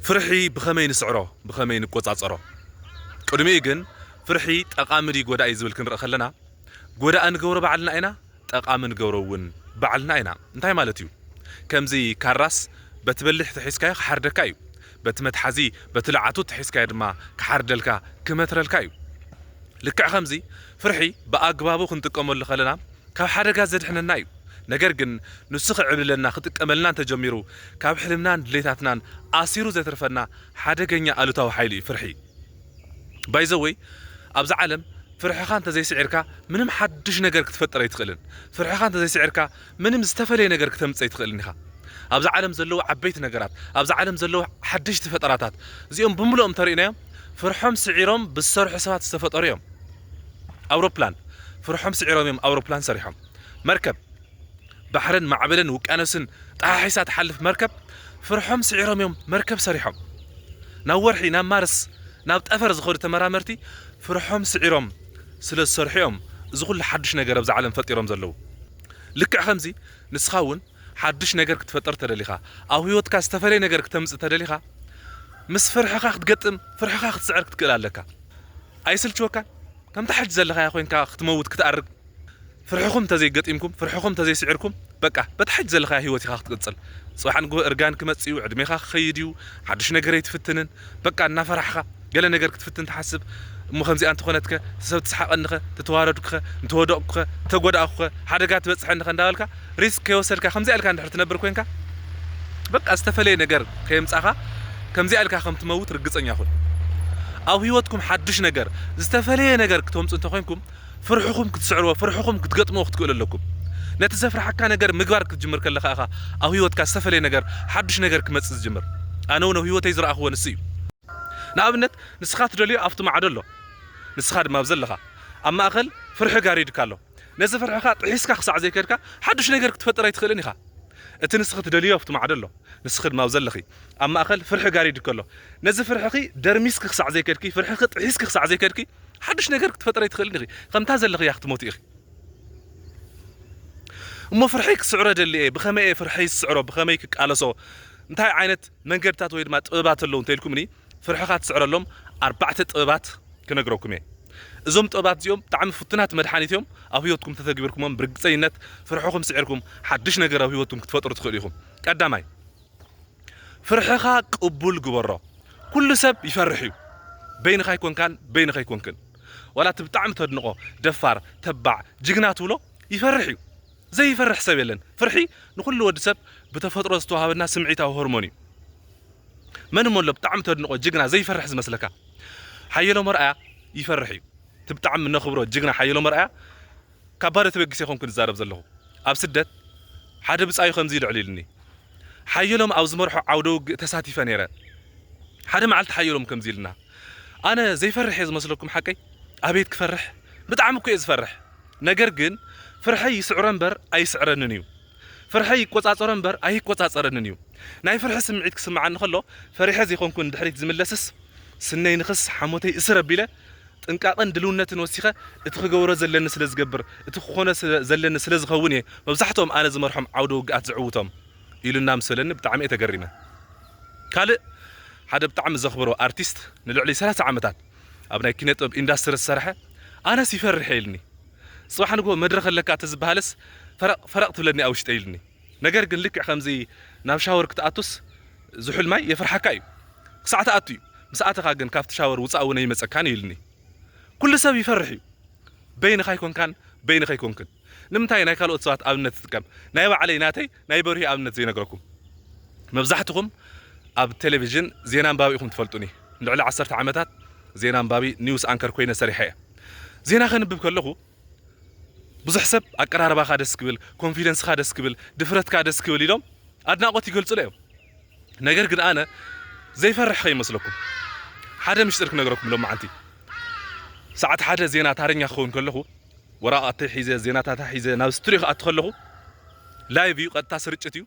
ፍርሒ ብኸመይ ንስዕሮ፣ ብኸመይ ንቆጻጸሮ? ቅድሚኡ ግን ፍርሒ ጠቓሚ ድዩ ጎዳኢ ዝብል ክንርኢ ከለና፣ ጎዳኢ ንገብሮ ባዕልና ኢና፣ ጠቓሚ ንገብሮ እውን ባዕልና ኢና። እንታይ ማለት እዩ? ከምዚ ካራስ በቲ በሊሕ ተሒዝካዮ ክሓርደካ እዩ። በቲ መትሓዚ፣ በቲ ልዓቱ እተሒዝካዮ ድማ ክሓርደልካ፣ ክመትረልካ እዩ። ልክዕ ከምዚ ፍርሒ ብኣግባቡ ክንጥቀመሉ ከለና ካብ ሓደጋ ዘድሕነና እዩ። ነገር ግን ንሱ ክዕብልለና ክጥቀመልና እንተጀሚሩ ካብ ሕልምናን ድሌታትናን ኣሲሩ ዘትርፈና ሓደገኛ ኣሉታዊ ሓይሊ እዩ ፍርሒ። ባይዘወይ ኣብዛ ዓለም ፍርሕኻ እንተዘይስዒርካ ምንም ሓዱሽ ነገር ክትፈጥር ኣይትኽእልን። ፍርሕኻ እንተዘይስዒርካ ምንም ዝተፈለየ ነገር ክተምጽእ ኣይትኽእልን ኢኻ። ኣብዛ ዓለም ዘለዉ ዓበይቲ ነገራት፣ ኣብዛ ዓለም ዘለዉ ሓደሽቲ ፈጠራታት እዚኦም ብምሉኦም እንተሪእናዮም ፍርሖም ስዒሮም ብዝሰርሑ ሰባት ዝተፈጠሩ እዮም። ኣውሮፕላን ፍርሖም ስዒሮም እዮም ኣውሮፕላን ሰሪሖም መርከብ ባሕርን ማዕበልን ውቅያኖስን ጠሓሒሳ ትሓልፍ መርከብ ፍርሖም ስዒሮም እዮም መርከብ ሰሪሖም ናብ ወርሒ ናብ ማርስ ናብ ጠፈር ዝኸዱ ተመራመርቲ ፍርሖም ስዒሮም ስለ ዝሰርሑ እዮም እዚ ኩሉ ሓዱሽ ነገር ኣብዚ ዓለም ፈጢሮም ዘለዉ ልክዕ ከምዚ ንስኻ እውን ሓዱሽ ነገር ክትፈጥር ተደሊኻ ኣብ ህይወትካ ዝተፈለየ ነገር ክተምፅእ ተደሊኻ ምስ ፍርሕኻ ክትገጥም ፍርሕኻ ክትስዕር ክትክእል ኣለካ ኣይስልችወካን ከምታ ሕጂ ዘለኻያ ኮይንካ ክትመውት ክትኣርግ ፍርሕኹም ተዘይ ገጢምኩም ፍርሕኹም ተዘይ ስዒርኩም በቃ በታ ሕጂ ዘለኻያ ሂወት ኢኻ ክትቅጽል ጽባሕ ንግሆ እርጋን ክመጽእ እዩ ዕድሜኻ ክኸይድ እዩ ሓዱሽ ነገር ኣይትፍትንን በቃ እናፈራሕኻ ገለ ነገር ክትፍትን ትሓስብ እሞ ከምዚኣ እንተኾነትከ እቲ ሰብ ትስሓቐኒኸ ተተዋረድኩኸ እንተወደቕኩኸ እንተጎዳእኩኸ ሓደጋ ትበጽሐኒኸ እንዳበልካ ሪስክ ከይወሰድካ ከምዚኣ ኢልካ እንድሕር ትነብር ኮንካ በቃ ዝተፈለየ ነገር ከየምጻኻ ከምዚኣ ኢልካ ከም ትመውት ርግጸኛ ኩን። ኣብ ህይወትኩም ሓዱሽ ነገር ዝተፈለየ ነገር ክተምጹ እንተ ኮንኩም ፍርሕኹም ክትስዕርዎ ፍርሕኹም ክትገጥምዎ ክትክእሉ ኣለኩም። ነቲ ዘፍርሓካ ነገር ምግባር ክትጅምር ከለኻ ኢኻ ኣብ ህይወትካ ዝተፈለየ ነገር ሓዱሽ ነገር ክመጽእ ዝጅምር። ኣነ ውን ኣብ ህይወተይ ዝረኣኽዎ ንሱ እዩ። ንኣብነት ንስኻ ትደልዮ ኣብቲ ማዕዶ ኣሎ ንስኻ ድማ ኣብዚ ኣለኻ ኣብ ማእከል ፍርሒ ጋሪድካ ኣሎ። ነዚ ፍርሕኻ ጥሒስካ ክሳዕ ዘይከድካ፣ ሓድሽ ነገር ክትፈጥር ኣይትኽእልን ኢኻ። እቲ ንስኺ ትደልይዮ ኣብቲ ማዕዶ ኣሎ፣ ንስኺ ድማ ኣብዚ ኣለኺ። ኣብ ማእከል ፍርሒ ጋሪድ ከሎ፣ ነዚ ፍርሕኺ ደርሚስኪ ክሳዕ ዘይከድኪ፣ ፍርሕኺ ጥሒስኪ ክሳዕ ዘይከድኪ፣ ሓድሽ ነገር ክትፈጥሪ ኣይትኽእልን ኢኺ። ከምታ ዘለኽያ ክትሞቲ ኢኺ። እሞ ፍርሐይ ክስዕሮ እደሊ እየ፣ ብኸመይ እየ ፍርሐይ ዝስዕሮ፣ ብኸመይ ክቃለሶ፣ እንታይ ዓይነት መንገድታት ወይ ድማ ጥበባት ኣለዉ እንተ ኢልኩምኒ፣ ፍርሕኻ ትስዕረሎም ኣርባዕተ ጥበባት ክነግረኩም እየ። እዞም ጥበባት እዚኦም ብጣዕሚ ፍቱናት መድሓኒት እዮም። ኣብ ህይወትኩም ተተግቢርኩሞም ብርግፀኝነት ፍርሕኹም ስዒርኩም ሓዱሽ ነገር ኣብ ህይወትኩም ክትፈጥሩ ትኽእሉ ኢኹም። ቀዳማይ ፍርሕኻ ቅቡል ግበሮ። ኩሉ ሰብ ይፈርሕ እዩ። በይንኻ ኣይኮንካን በይንኺ ኣይኮንክን። ዋላ እቲ ብጣዕሚ ተድንቖ ደፋር፣ ተባዕ፣ ጅግና ትብሎ ይፈርሕ እዩ። ዘይፈርሕ ሰብ የለን። ፍርሒ ንኹሉ ወዲ ሰብ ብተፈጥሮ ዝተዋሃበና ስምዒታዊ ሆርሞን እዩ። መን እሞ ኣሎ ብጣዕሚ ተድንቆ ጅግና ዘይፈርሕ ዝመስለካ ሓየሎም ኣርኣያ ይፈርሕ እዩ እቲ ብጣዕሚ እነኽብሮ ጅግና ሓየሎም ኣርኣያ ካብ ባዶ ተበጊሰ ኣይኮንኩን ዝዛረብ ዘለኹ ኣብ ስደት ሓደ ብጻዩ ከምዚ ኢሉ ኣዕሊሉኒ ሓየሎም ኣብ ዝመርሖ ዓውደ ውግእ ተሳቲፈ ነይረ ሓደ መዓልቲ ሓየሎም ከምዚ ኢሉና ኣነ ዘይፈርሕ እየ ዝመስለኩም ሓቀይ ኣቤት ክፈርሕ ብጣዕሚ እኮ እየ ዝፈርሕ ነገር ግን ፍርሐይ ይስዕሮ እምበር ኣይስዕረንን እዩ ፍርሐይ ይቆጻጸሮ እምበር ኣይቆጻጸረንን እዩ ናይ ፍርሒ ስምዒት ክስምዓኒ ከሎ ፈሪሐ ዘይኮንኩ ንድሕሪት ዝምለስስ ስነይ ንክስ ሓሞተይ እስር ኣቢለ ጥንቃቀን ድልውነትን ወሲኸ እቲ ክገብሮ ዘለኒ ስለ ዝገብር እቲ ክኾኖ ዘለኒ ስለ ዝኸውን እየ መብዛሕትኦም ኣነ ዝመርሖም ዓውደ ውግኣት ዝዕውቶም ኢሉና ምስ በለኒ ብጣዕሚ እየ ተገሪመ ካልእ ሓደ ብጣዕሚ ዘኽብሮ ኣርቲስት ንልዕሊ ሰላሳ ዓመታት ኣብ ናይ ኪነ ጥበብ ኢንዳስትሪ ዝሰርሐ ኣነስ ይፈርሕ እየ ኢልኒ ጽባሕ ንግሆ መድረኽ ኣለካ ተዝበሃልስ ፈረቕ ፈረቕ ትብለኒ ኣብ ውሽጠይ ኢሉኒ። ነገር ግን ልክዕ ከምዚ ናብ ሻወር ክትኣቱስ ዝሑል ማይ የፍርሓካ እዩ። ክሳዕ ትኣቱ እዩ። ምስ ኣተኻ ግን ካብቲ ሻወር ውጻእ እውን ኣይመጸካን እዩ ኢሉኒ። ኩሉ ሰብ ይፈርሕ እዩ። በይንኻ ኣይኮንካን በይንኺ ኣይኮንክን። ንምንታይ ናይ ካልኦት ሰባት ኣብነት ትጥቀም ናይ ባዕለይ ናተይ ናይ በርሂ ኣብነት ዘይነግረኩም መብዛሕትኹም ኣብ ቴሌቪዥን ዜና ኣንባቢ ኢኹም ትፈልጡኒ ንልዕሊ ዓሰርተ ዓመታት ዜና ኣንባቢ ኒውስ ኣንከር ኮይነ ሰሪሐ እየ ዜና ከንብብ ከለኹ ብዙሕ ሰብ ኣቀራርባኻ ደስ ክብል ኮንፊደንስኻ ደስ ክብል ድፍረትካ ደስ ክብል ኢሎም ኣድናቆት ይገልጹለ እዮም ነገር ግን ኣነ ዘይፈርሕ ከይመስለኩም ሓደ ምሽጢር ክነግረኩም ሎማዓንቲ ሰዓት ሓደ ዜና ታረኛ ክኸውን ከለኹ ወራቓተይ ሒዘ ዜናታታ ሒዘ ናብ ስቱድዮ ክኣቱ ከለኹ ላይቭ እዩ ቀጥታ ስርጭት እዩ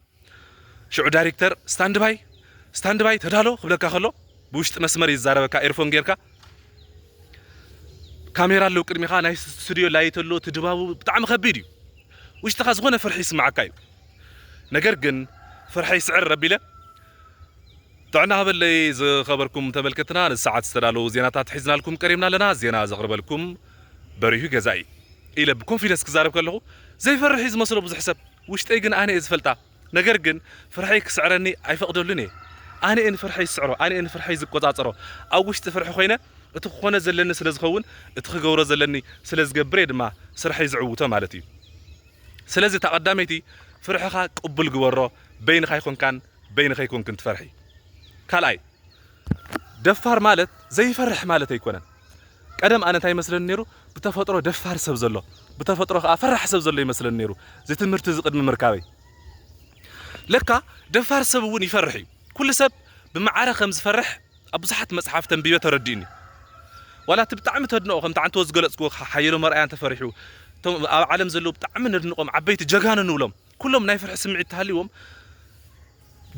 ሽዑ ዳይሬክተር ስታንድ ባይ ስታንድ ባይ ተዳሎ ክብለካ ከሎ ብውሽጢ መስመር ይዛረበካ ኤርፎን ጌርካ ካሜራ ኣለዉ ቅድሚኻ ናይ ስቱድዮ ላይት ኣሎ እቲ ድባቡ ብጣዕሚ ከቢድ እዩ ውሽጥኻ ዝኾነ ፍርሒ ይስምዓካ እዩ ነገር ግን ፍርሐይ ስዕር ረቢለ ጥዕና ሃበለይ ዝኸበርኩም ተመልከትና ንሰዓት ዝተዳለዉ ዜናታት ሒዝናልኩም ቀሪብና ኣለና ዜና ዘቕርበልኩም በሪሁ ገዛኢ ኢለ ብኮንፊደንስ ክዛረብ ከለኹ ዘይፈርሕ እዩ ዝመስሎ ብዙሕ ሰብ ውሽጠይ ግን ኣነ እየ ዝፈልጣ ነገር ግን ፍርሐይ ክስዕረኒ ኣይፈቕደሉን እየ ኣነ እየ ንፍርሐይ ዝስዕሮ ኣነ እየ ንፍርሐይ ዝቆጻጸሮ ኣብ ውሽጢ ፍርሒ ኮይነ እቲ ክኾነ ዘለኒ ስለ ዝኸውን እቲ ክገብሮ ዘለኒ ስለ ዝገብር እየ ድማ ስርሐይ ዝዕውቶ ማለት እዩ ስለዚ እታ ቀዳመይቲ ፍርሕኻ ቅቡል ግበሮ በይንኻ ኣይኮንካን በይኒ ከይኮንክን ትፈርሒ ካልኣይ ደፋር ማለት ዘይፈርሕ ማለት ኣይኮነን ቀደም ኣነ እንታይ ይመስለኒ ነይሩ ብተፈጥሮ ደፋር ሰብ ዘሎ ብተፈጥሮ ከዓ ፈራሕ ሰብ ዘሎ ይመስለኒ ነይሩ እዚ ትምህርቲ እዚ ቅድሚ ምርካበይ ለካ ደፋር ሰብ እውን ይፈርሕ እዩ ኩሉ ሰብ ብመዓረ ከም ዝፈርሕ ኣብ ብዙሓት መፅሓፍ ተንቢበ ተረዲኡኒ ዋላ እቲ ብጣዕሚ ተድንቆ ከምቲ ዓንተዎ ዝገለፅክዎ ሓየሎም ኣርኣያ እንተፈሪሑ እቶም ኣብ ዓለም ዘለዉ ብጣዕሚ ነድንቆም ዓበይቲ ጀጋኑ ንብሎም ኩሎም ናይ ፍርሒ ስምዒት ተሃልይዎም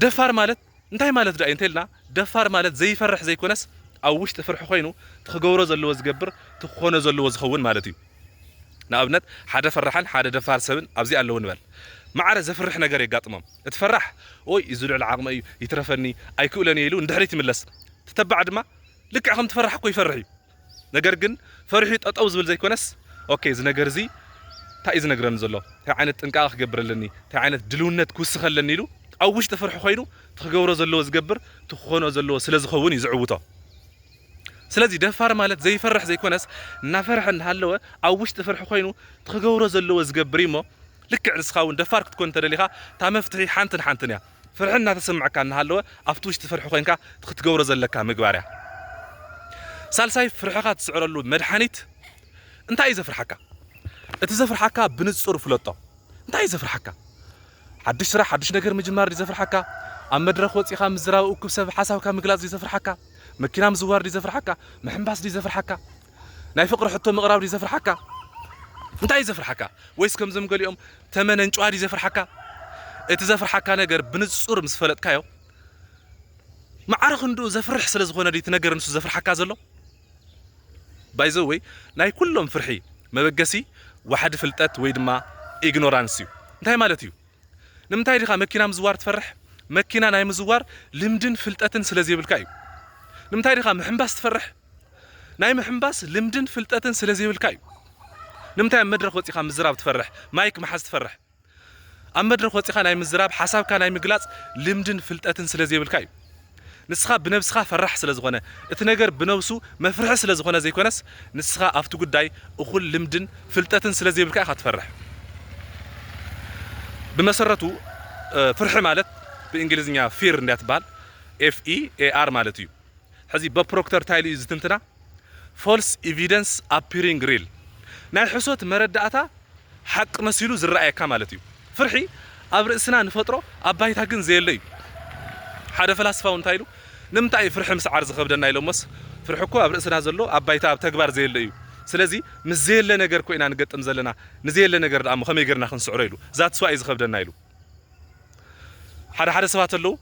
ደፋር ማለት እንታይ ማለት ድኣ እዩ እንተልና ደፋር ማለት ዘይፈርሕ ዘይኮነስ ኣብ ውሽጢ ፍርሒ ኮይኑ እቲ ክገብሮ ዘለዎ ዝገብር እቲ ክኾኖ ዘለዎ ዝኸውን ማለት እዩ ንኣብነት ሓደ ፈራሕን ሓደ ደፋር ሰብን ኣብዚ ኣለዉ ንበል ማዕረ ዘፍርሕ ነገር የጋጥሞም እቲ ፈራሕ ኦይ እዚ ልዕሊ ዓቕመይ እዩ ይትረፈኒ ኣይክእሎን እየ ኢሉ ንድሕሪት ይምለስ እቲ ተባዕ ድማ ልክዕ ከምቲ ፈራሕ እኮ ይፈርሕ እዩ ነገር ግን ፈሪሑ ጠጠው ዝብል ዘይኮነስ ኦኬ እዚ ነገር እዚ ታይ እዩ ዝነግረኒ ዘሎ ታይ ዓይነት ጥንቃቀ ክገብር ኣለኒ ታይ ዓይነት ድልውነት ክውስክ ኣለኒ ኢሉ ኣብ ውሽጢ ፍርሒ ኮይኑ እቲ ክገብሮ ዘለዎ ዝገብር እቲ ክኮንኦ ዘለዎ ስለ ዝከውን እዩ ዝዕውቶ ስለዚ ደፋር ማለት ዘይፈርሕ ዘይኮነስ እናፈርሐ እናሃለወ ኣብ ውሽጢ ፍርሒ ኮይኑ እቲ ክገብሮ ዘለዎ ዝገብር እዩ እሞ ልክዕ ንስካ እውን ደፋር ክትኮን እንተደሊካ እታ መፍትሒ ሓንትን ሓንትን እያ ፍርሒ እናተሰምዐካ እናሃለወ ኣብቲ ውሽጢ ፍርሒ ኮይንካ እቲ ክትገብሮ ዘለካ ምግባር እያ። ሳልሳይ ፍርሕኻ ትስዕረሉ መድሓኒት እንታይ እዩ ዘፍርሓካ? እቲ ዘፍርሓካ ብንጹር ፍለጦ። እንታይ እዩ ዘፍርሓካ? ሓድሽ ስራሕ ሓድሽ ነገር ምጅማር ድዩ ዘፍርሓካ? ኣብ መድረኽ ወጺኻ ምዝራብ እኩብ ሰብ ሓሳብካ ምግላጽ ድዩ ዘፍርሓካ? መኪና ምዝዋር ድዩ ዘፍርሓካ? ምሕንባስ ድዩ ዘፍርሓካ? ናይ ፍቅሪ ሕቶ ምቅራብ ድዩ ዘፍርሓካ እንታይ እዩ ዘፍርሓካ ወይስ ከምዞም ገሊኦም ተመነንጭዋ ድዩ ዘፍርሓካ እቲ ዘፍርሓካ ነገር ብንጹር ምስ ፈለጥካዮ ማዕረ ክንድኡ ዘፍርሕ ስለ ዝኾነ ድዩ እቲ ነገር ንሱ ዘፍርሓካ ዘሎ ባይዘ ወይ ናይ ኩሎም ፍርሒ መበገሲ ዋሕዲ ፍልጠት ወይ ድማ ኢግኖራንስ እዩ እንታይ ማለት እዩ ንምንታይ ዲኻ መኪና ምዝዋር ትፈርሕ መኪና ናይ ምዝዋር ልምድን ፍልጠትን ስለ ዘይብልካ እዩ ንምንታይ ዲኻ ምሕንባስ ትፈርሕ ናይ ምሕንባስ ልምድን ፍልጠትን ስለ ዘይብልካ እዩ ንምንታይ ኣብ መድረኽ ወጺኻ ምዝራብ ትፈርሕ ማይክ ምሓዝ ትፈርሕ ኣብ መድረኽ ወጺኻ ናይ ምዝራብ ሓሳብካ ናይ ምግላጽ ልምድን ፍልጠትን ስለ ዘይብልካ እዩ ንስኻ ብነብስኻ ፈራሕ ስለ ዝኾነ እቲ ነገር ብነብሱ መፍርሒ ስለ ዝኾነ ዘይኮነስ ንስኻ ኣብቲ ጉዳይ እኹል ልምድን ፍልጠትን ስለ ዘይብልካ ኢኻ ትፈርሕ ብመሰረቱ ፍርሒ ማለት ብእንግሊዝኛ ፊር እንድያ ትበሃል ኤፍ ኢ ኤ ኣር ማለት እዩ ሕዚ በፕሮክተር ታይሉ እዩ ዝትንትና ፎልስ ኢቪደንስ ኣፒሪንግ ሪል ናይ ሕሶት መረዳእታ ሓቂ መሲሉ ዝረኣየካ ማለት እዩ ፍርሒ ኣብ ርእስና ንፈጥሮ ኣብ ባይታ ግን ዘየለ እዩ ሓደ ፈላስፋ እውን እንታይ ኢሉ ንምንታይ እዩ ፍርሒ ምስዓር ዝኸብደና ኢሎሞስ ፍርሒ እኮ ኣብ ርእስና ዘሎ ኣብ ባይታ ኣብ ተግባር ዘየለ እዩ ስለዚ ምስ ዘየለ ነገር እኮ ኢና ንገጥም ዘለና ንዘየለ ነገር ደኣ እሞ ከመይ ጌርና ክንስዕሮ ኢሉ ዛትስ ዋይ እዩ ዝኸብደና ኢሉ ሓደ ሓደ ሰባት ኣለዉ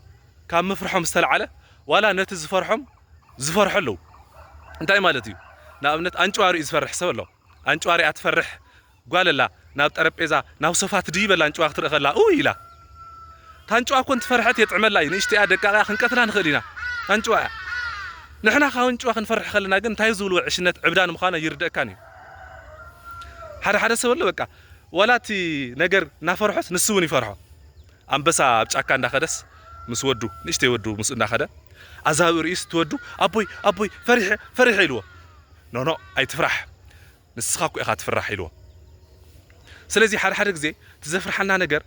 ካብ ምፍርሖም ዝተላዕለ ዋላ ነቲ ዝፈርሖም ዝፈርሑ ኣለዉ እንታይ ማለት እዩ ንኣብነት ኣንጭዋ ሪኡ ዝፈርሕ ሰብ ኣሎ ኣንጭዋ ሪኣ ትፈርሕ ጓል ኣላ ናብ ጠረጴዛ ናብ ሶፋ ትድይብ ኣላ ኣንጭዋ ክትርኢ ከላ ኡይ ኢላ ታንጭዋ እኮ እንትፈርሐት የጥዕመላ እዩ ንእሽተይ እያ ደቃቅ እያ ክንቀትላ ንኽእል ኢና ኣንጭዋ እያ ንሕና ካብ ኣንጭዋ ክንፈርሕ ከለና ግን እንታይ ዝብልዎ ዕሽነት ዕብዳን ምዃኑ ኣይርደእካን እዩ ሓደ ሓደ ሰብ ኣሎ በቃ ዋላ እቲ ነገር እናፈርሖስ ንሱ እውን ይፈርሖ ኣንበሳ ኣብ ጫካ እንዳኸደስ ምስ ወዱ ንእሽተይ ወዱ ምስኡ እንዳኸደ ኣዛብእ ርእዩስ እቲ ወዱ ኣቦይ ኣቦይ ፈሪሐ ፈሪሐ ኢልዎ ኖኖእ ኣይትፍራሕ ንስኻ እኮ ኢኻ ትፍራሕ ኢልዎ ስለዚ ሓደ ሓደ ግዜ እቲ ዘፍርሓና ነገር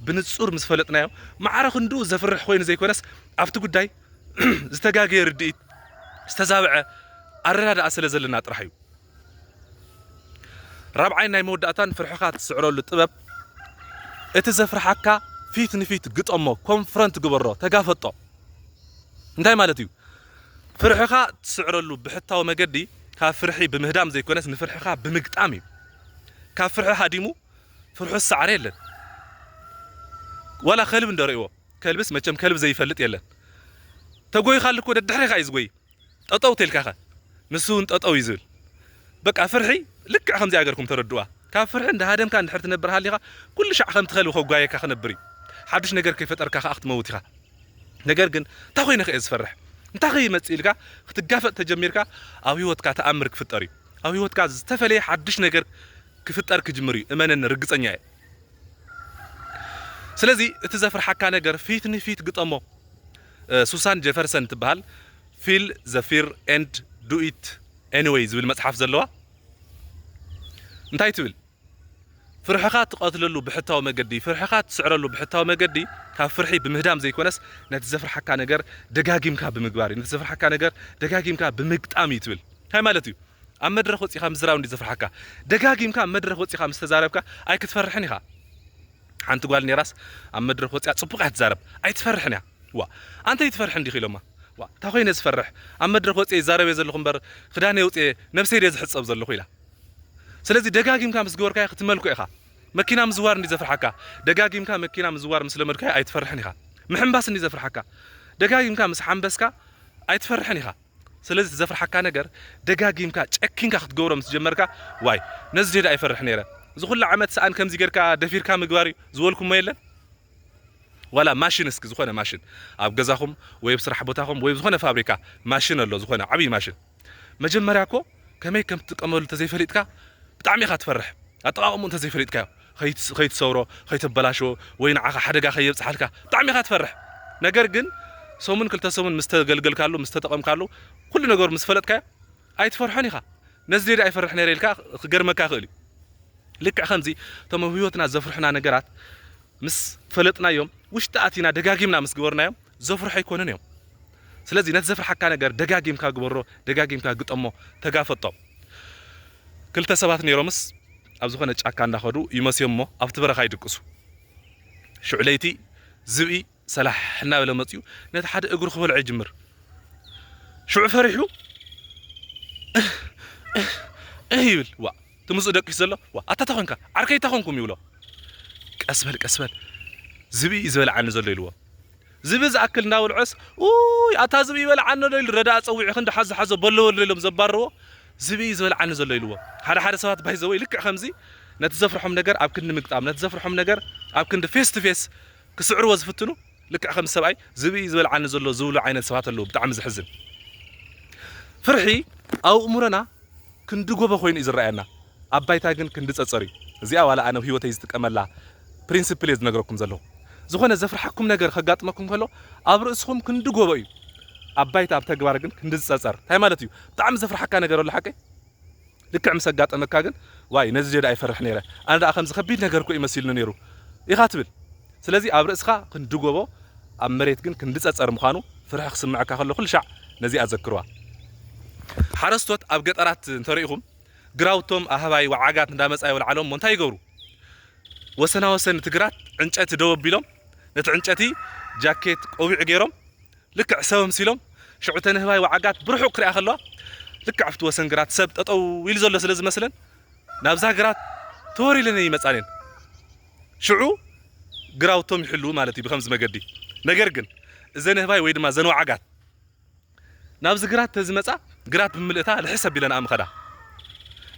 ብንጹር ምስ ፈለጥናዮ ማዕረ ክንድኡ ዘፍርሕ ኮይኑ ዘይኮነስ ኣብቲ ጉዳይ ዝተጋገየ ርድኢት ዝተዛብዐ ኣረዳድኣ ስለ ዘለና ጥራሕ እዩ ራብዓይን ናይ መወዳእታን ፍርሕኻ ትስዕረሉ ጥበብ እቲ ዘፍርሓካ ፊት ንፊት ግጠሞ ኮንፍረንት ግበሮ ተጋፈጦ እንታይ ማለት እዩ ፍርሕኻ ትስዕረሉ ብሕታዊ መገዲ ካብ ፍርሒ ብምህዳም ዘይኮነስ ንፍርሕኻ ብምግጣም እዩ ካብ ፍርሒ ሃዲሙ ፍርሑ ዝሰዓረ የለን ዋላ ከልብ እንደርእዎ ከልብስ መቸም ከልብ ዘይፈልጥ የለን ተጎይኻሉ እኮ ደድሕሪኻ እዩ ዝጎይ ጠጠው ተልካኸ ንሱ ውን ጠጠው እዩ ዝብል በቃ ፍርሒ ልክዕ ከምዚኣ ገርኩም ተረድኡዋ ካብ ፍርሒ እንዳሃደምካ እንድሕር ትነብር ሃሊኻ ኩሉ ሻዕ ከምቲ ከልቢ ከጓየየካ ክነብር እዩ ሓዱሽ ነገር ከይፈጠርካ ከኣ ክትመውት ኢኻ ነገር ግን እንታይ ኮይነ ከ እየ ዝፈርሕ እንታይ ከ ይመጽእ ኢልካ ክትጋፈጥ ተጀሚርካ ኣብ ህይወትካ ተኣምር ክፍጠር እዩ ኣብ ህይወትካ ዝተፈለየ ሓዱሽ ነገር ክፍጠር ክጅምር እዩ እመነኒ ርግጸኛ እየ ስለዚ እቲ ዘፍርሓካ ነገር ፊት ንፊት ግጠሞ ሱሳን ጀፈርሰን እትበሃል ፊል ዘ ፊር ኤንድ ዱ ኢት ኤኒወይ ዝብል መጽሓፍ ዘለዋ እንታይ ትብል? ፍርሕኻ እትቐትለሉ ብሕታዊ መገዲ፣ ፍርሕኻ እትስዕረሉ ብሕታዊ መገዲ ካብ ፍርሒ ብምህዳም ዘይኮነስ ነቲ ዘፍርሓካ ነገር ደጋጊምካ ብምግባር እዩ፣ ነቲ ዘፍርሓካ ነገር ደጋጊምካ ብምግጣም እዩ ትብል። እንታይ ማለት እዩ? ኣብ መድረኽ ወጺእካ ምዝራብ እንድዩ ዘፍርሓካ። ደጋጊምካ ኣብ መድረኽ ወጺእካ ምስ ተዛረብካ ኣይክትፈርሕን ኢኻ። ሓንቲ ጓል ኔራስ ኣብ መድረክ ወጺኣ ጽቡቅ እያ ትዛረብ ኣይትፈርሕን እያ ዋእ ኣንተ ኣይትፈርሕን ዲኪ ኢሎማ ዋእ ታይ ኮይነ ዝፈርሕ ኣብ መድረክ ወጺኤ ይዛረብ እየ ዘለኩ እምበር ክዳነይ ኣውጺኤ ነብሰይ ድየ ዝሕጸብ ዘለኩ ኢላ ስለዚ ደጋጊምካ ምስ ገበርካዮ ክትመልኮ ኢካ መኪና ምዝዋር እንድዩ ዘፍርሓካ ደጋጊምካ መኪና ምዝዋር ምስ ለመድካዮ ኣይትፈርሕን ኢካ ምሕንባስ እንድዩ ዘፍርሓካ ደጋጊምካ ምስ ሓንበስካ ኣይትፈርሕን ኢካ ስለዚ እቲ ዘፍርሓካ ነገር ደጋጊምካ ጨኪንካ ክትገብሮ ምስ ጀመርካ ዋይ ነዚ ድየ ደኣ ይፈርሕ ነይረ እዚ ኩሉ ዓመት ሰኣን ከምዚ ጌርካ ደፊርካ ምግባር እዩ ዝበልኩሞ የለን ዋላ ማሽን እስኪ ዝኾነ ማሽን ኣብ ገዛኹም ወይ ኣብ ስራሕ ቦታኹም ወይ ኣብ ዝኾነ ፋብሪካ ማሽን ኣሎ ዝኾነ ዓብዪ ማሽን መጀመርያ እኮ ከመይ ከም ትጥቀመሉ እንተዘይፈሊጥካ ብጣዕሚ ኢኻ ትፈርሕ ኣጠቓቕምኡ እንተዘይፈሊጥካዮ ከይትሰብሮ ከይተበላሽዎ ወይ ንዓኻ ሓደጋ ከየብጽሓልካ ብጣዕሚ ኢኻ ትፈርሕ ነገር ግን ሰሙን ክልተ ሰሙን ምስ ተገልገልካሉ ምስ ተጠቐምካሉ ኩሉ ነገሩ ምስ ፈለጥካዮ ኣይትፈርሖን ኢኻ ነዚ ዴዳ ይፈርሕ ነይረ ኢልካ ክገርመካ ይኽእል እዩ ልክዕ ከምዚ እቶም ኣብ ህይወትና ዘፍርሑና ነገራት ምስ ፈለጥናዮም ውሽጢ ኣቲና ደጋጊምና ምስ ግበርናዮም ዘፍርሑ ኣይኮኑን እዮም ስለዚ ነቲ ዘፍርሓካ ነገር ደጋጊምካ ግበሮ ደጋጊምካ ግጠሞ ተጋፈጦ ክልተ ሰባት ነይሮምስ ኣብ ዝኾነ ጫካ እንዳኸዱ ይመስዮምሞ ኣብቲ በረኻ ይድቅሱ ሽዑ ለይቲ ዝብኢ ሰላሕ እናበለ መፅኡ ነቲ ሓደ እግሩ ክበልዖ ይጅምር ሽዑ ፈሪሑ እህ እህ እህ ይብል ዋእ ትምጽኡ ደቂሱ ዘሎ ዋ ኣታ ታይ ኮንካ ዓርከይ ታይ ኮንኩም ይብሎ ቀስ በል ቀስ በል ዝብኢ እዩ ዝበልዓኒ ዘሎ ኢልዎ ዝብኢ ዝኣክል እንዳበልዖስ ኡይ ኣታ ዝብኢ ይበልዓኒ ኣሎ ኢሉ ረዳኢ ጸዊዑ ክንዲ ሓዞ ሓዞ በሎ በሎ ኢሎም ዘባርርዎ ዝብኢ እዩ ዝበልዓኒ ዘሎ ኢልዎ ሓደ ሓደ ሰባት ባይ ዘወይ ልክዕ ከምዚ ነቲ ዘፍርሖም ነገር ኣብ ክንዲ ምግጣም ነቲ ዘፍርሖም ነገር ኣብ ክንዲ ፌስ ቱ ፌስ ክስዕርዎ ዝፍትኑ ልክዕ ከምዚ ሰብኣይ ዝብኢ ዝበልዓኒ ዘሎ ዝብሉ ዓይነት ሰባት ኣለዉ ብጣዕሚ ዘሕዝን ፍርሒ ኣብ ኣእምሮና ክንዲ ጎቦ ኮይኑ እዩ ዝረኣየና ኣብ ባይታ ግን ክንዲ ጸጸር እዩ እዚኣ ዋላ ኣነ ኣብ ህይወተይ ዝጥቀመላ ፕሪንስፕል እየ ዝነግረኩም ዘለኹ ዝኾነ ዘፍርሓኩም ነገር ከጋጥመኩም ከሎ ኣብ ርእስኹም ክንዲ ጎቦ እዩ ኣብ ባይታ ኣብ ተግባር ግን ክንዲ ዝጸጸር እንታይ ማለት እዩ ብጣዕሚ ዘፍርሓካ ነገር ኣሎ ሓቀይ ልክዕ ምስ ኣጋጠመካ ግን ዋይ ነዚ ጀዳ ይፈርሕ ነይረ ኣነ ደኣ ከምዚ ከቢድ ነገር እኮ እዩ መሲልኒ ነይሩ ኢኻ ትብል ስለዚ ኣብ ርእስኻ ክንዲ ጎቦ ኣብ መሬት ግን ክንዲ ጸጸር ምዃኑ ፍርሒ ክስምዐካ ከሎ ኩልሻዕ ነዚኣ ዘክርዋ። ሓረስቶት ኣብ ገጠራት እንተሪኢኹም ግራውቶም ኣህባይ ወዓጋት እንዳመጻ የውልዓሎም እሞ እንታይ ይገብሩ ወሰናወሰን እቲ ግራት ዕንጨቲ ደው ኣቢሎም ነቲ ዕንጨቲ ጃኬት ቆቢዕ ገይሮም ልክዕ ሰብ ኣምሲሎም ሽዑ እተን ህባይ ወዓጋት ብርሑቕ ክሪኣ ከለዋ ልክዕ ኣብቲ ወሰን ግራት ሰብ ጠጠው ኢሉ ዘሎ ስለ ዝመስለን ናብዛ ግራት ተወሪለን እየን ይመጻ ነይን ሽዑ ግራውቶም ይሕልዉ ማለት እዩ ብከምዚ መገዲ ነገር ግን እዘን ህባይ ወይ ድማ እዘን ወዓጋት ናብዚ ግራት ተዝመጻ ግራት ብምልእታ ልሕስ ኣቢለንኣ ምኸዳ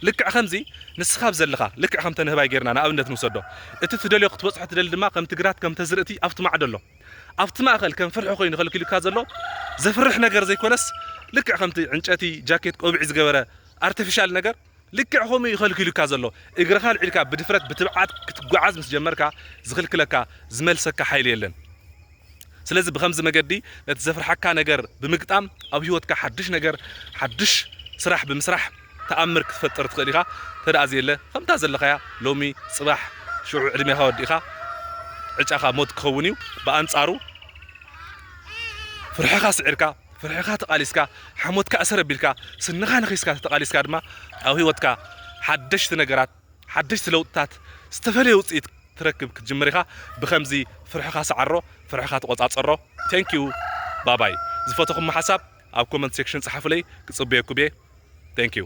ልክዕ ከምዚ ንስኻ ኣብ ዘለኻ ልክዕ ከምተን ህባይ ጌርና ንኣብነት ንውሰዶ እቲ ትደልዮ ክትበጽሖ ትደሊ ድማ ከምቲ ግራት ከምተዝርእቲ ኣብቲ ማዕዶ ኣሎ ኣብቲ ማእከል ከም ፍርሒ ኮይኑ ከልኪሉካ ዘሎ ዘፍርሕ ነገር ዘይኮነስ ልክዕ ከምቲ ዕንጨቲ ጃኬት ቆቢዕ ዝገበረ ኣርተፊሻል ነገር ልክዕ ከምኡ እዩ ከልኪሉካ ዘሎ እግርኻ ኣልዒልካ ብድፍረት ብትብዓት ክትጓዓዝ ምስ ጀመርካ ዝኽልክለካ ዝመልሰካ ሓይሊ የለን ስለዚ ብከምዚ መገዲ ነቲ ዘፍርሓካ ነገር ብምግጣም ኣብ ህይወትካ ሓድሽ ነገር ሓድሽ ስራሕ ብምስራሕ ተኣምር ክትፈጥር ትኽእል ኢኻ ተደኣ ዘየለ ከምታ ዘለኻያ ሎሚ ጽባሕ ሽዑ ዕድሜኻ ወዲእኻ ዕጫኻ ሞት ክኸውን እዩ ብኣንጻሩ ፍርሕኻ ስዒርካ ፍርሕኻ ተቓሊስካ ሓሞትካ እሰር ኣቢልካ ስንኻ ነኺስካ ተተቓሊስካ ድማ ኣብ ህይወትካ ሓደሽቲ ነገራት ሓደሽቲ ለውጥታት ዝተፈለየ ውጽኢት ትረክብ ክትጅምር ኢኻ ብከምዚ ፍርሕኻ ሰዓሮ ፍርሕኻ ተቆጻጸሮ ቴንኪዩ ባባይ ዝፈተኹሞ ሓሳብ ኣብ ኮመንት ሴክሽን ጸሓፉለይ ክጽበየኩብየ Thank you።